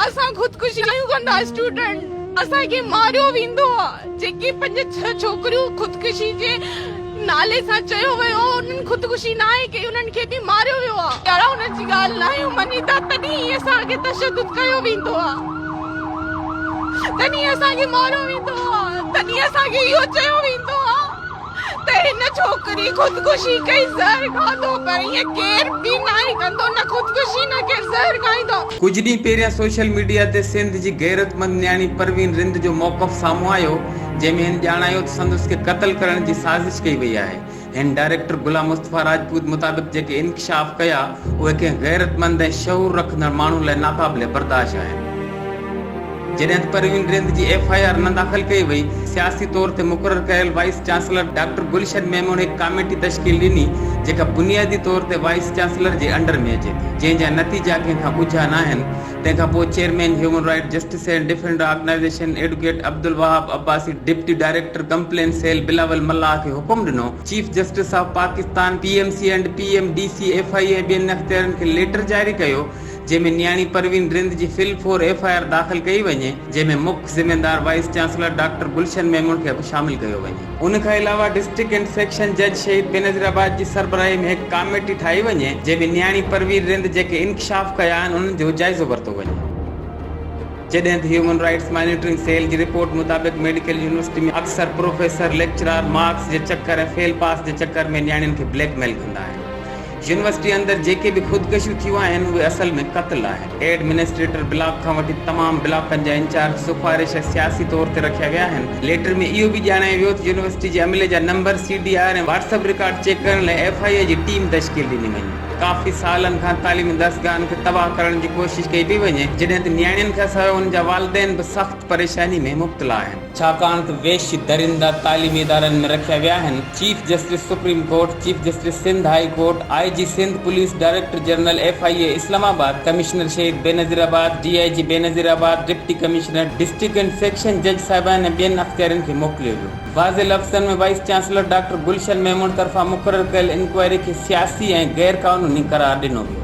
اسان خودڪشي ڪيون ڪندا اسٽوڊنٽ اسان کي ماريو ويندو آ جيڪي پنج ڇهه ڇوڪريون خودڪشي جي نالي سان چيو ويو آ انهن خودڪشي ناهي ڪئي انهن کي به ماريو ويو آ جهڙا انهن جي ڳالهه ناهيون مڃيندا تڏهن ئي اسان کي تشدد ڪيو ويندو آ تڏهن ئي اسان کي ماريو ويندو آ تڏهن ئي اسان کي اهو چيو ويندو آ. ته هن ڇوڪري خودڪشي ڪئي زهر کاڌو پر ائين ڪير به ناهي ڪندو نه خودڪشي نه ڪير زهر کائيندو. ڪجهه ڏينهن پهريان سوشل ميڊيا تي سنڌ جي غيرتمند نياڻي پروين رند جو موقف سامهون آيو جنهن ۾ هن ڄاڻايو ته سندس کي قتل ڪرڻ جي سازش ڪئي وئي آهي هن ڊائريڪٽر غلام مصطفيٰ راجپوت مطابق جيڪي انڪشاف ڪيا اهي ڪنهن غيرتمند ۽ شعور رکندڙ ماڻهن لاء ناقابل برداشت آهن. جڏهن ته پروين رند جي ايف آء آر نه داخل ڪئي وئي، سياسي طور تي مقرر ڪيل vice chancellor doctor Gulshan Memon هڪ ڪاميٽي تشڪيل ڏني، جيڪا بنيادي طور تي وائيس چانسلر جي انڊر ۾ اچي ٿي، جنهن جا نتيجا ڪنهن کان ڳجها ناهن، تنهن کان پوء chairman human right justice and defender organization advocate Abdul Wahab Abbasi deputy director complaint cell Bilawal Mallah کي حڪم ڏنو، chief justice of Pakistan, PMC and PMDC, FIA ۽ ٻين اختيارين کي ليٽر جاري ڪيو، جنهن ۾ نياڻي پروين رند جي فل فور ايف آء آر داخل ڪئي وڃي جنهن ۾ مک ذميوار vice chancellor doctor Gulshan Memon کي به شامل ڪيو وڃي. ان کان علاوه ڊسٽرڪٽ اينڊ سيڪشن جج شهيد بينظير آباد جي سربراهي ۾ هڪ ڪاميٽي ٺاهي وڃي جنهن ۾ نياڻي پروين رند جيڪي انڪشاف ڪيا آهن انهن جو جائزو ورتو وڃي جڏهن ته هيومن رائيٽس مانيٽرنگ سيل جي رپورٽ مطابق ميڊيڪل يونيورسٽي ۾ اڪثر پروفيسر ليڪچرار مارڪس جي چڪر ۽ فيل پاس جي چڪر ۾ نياڻين کي بليڪ ميل ڪندا آهن يونيورسٽي اندر جيڪي به خودڪشيون ٿيون آهن اهي اصل ۾ قتل آهن. ايڊمنسٽريٽر بلاڪ کان وٺي تمام بلاڪن جا انچارج سفارش ۽ سياسي طور تي رکيا ويا آهن. ليٽر ۾ اهو به ڄاڻايو ويو ته يونيورسٽي جي عملي جا number, CDR ۽ WhatsApp record check ڪرڻ لاء ايف آء اي جي ٽيم تشڪيل ڏني وڃي. ڪافي سالن کان تعليمي درسگاهن کي تباهه ڪرڻ جي ڪوشش ڪئي پئي وڃي جڏهن ته نياڻين کانسواء انهن جا والدين به سخت پريشاني ۾ مبتلا آهن. ڇاڪاڻ ته وحشي درندا تعليمي ادارن ۾ رکيا ويا آهن، chief justice supreme court, chief justice Sindh high court, IG Sindh police, director general FIA Islamabad, commissioner Shaheed Benazirabad, DIG Benazirabad, deputy commissioner, district ۽ session جج صاحبان ۽ ٻين اختيارين کي موڪليو ويو. واضح لفظن ۾ vice chancellor doctor Gulshan Memon طرفان مقرر ڪيل انڪوائري کي سياسي ۽ غيرقانوني قرار ڏنو ويو.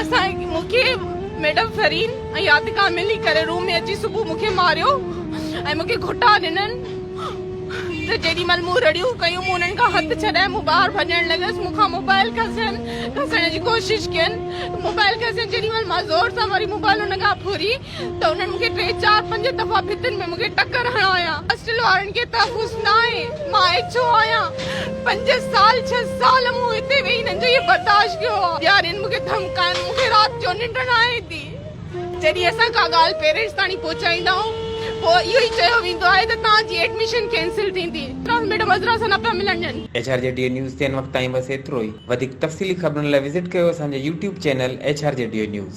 اسان مون کي ميڊم فرين ۽ يادگار ملي ڪري روم ۾ اچي صبح مون کي ماريو ۽ مون کي گهٽا ڏنن ته جيڏي مهل مون رڙيون ڪيون مون انهن کان هٿ ڇڏائي مون ٻاهر ڀڄڻ لڳس مون کان موبائل کسين کسڻ جي ڪوشش ڪين موبائل کسين جيڏي مهل مان زور سان وري موبائل ان کان ڦري ته انهن مون کي ٽي چار پنج دفعا ڀتين ۾ مون کي ٽڪر هڻايا. هاسٽل وارن کي تحفظ ناهي. مان ايڇ او آهيان. پنج سال ڇهه سال مون هتي ويهي هنن جو اهي برداشت ڪيو آهي. ڏيارين مون کي ڌمڪائن. مون کي رات جو ننڊ نه آهي ٿي. جڏهن اسان ڪا ڳالهه پيرنٽس تاڻي پهچائيندا آهيون پوء اهو ئي چيو ويندو آهي ته توهان جي ايڊميشن ڪينسل ٿيندي. ٽرانس ميڊم عذرا سان نه پيا ملڻ ڏين. HRGD news تي هن وقت تائين بس ايترو ئي. وڌيڪ تفصيلي خبرن لاء وزٽ ڪيو اسان جو YouTube channel HRGD news.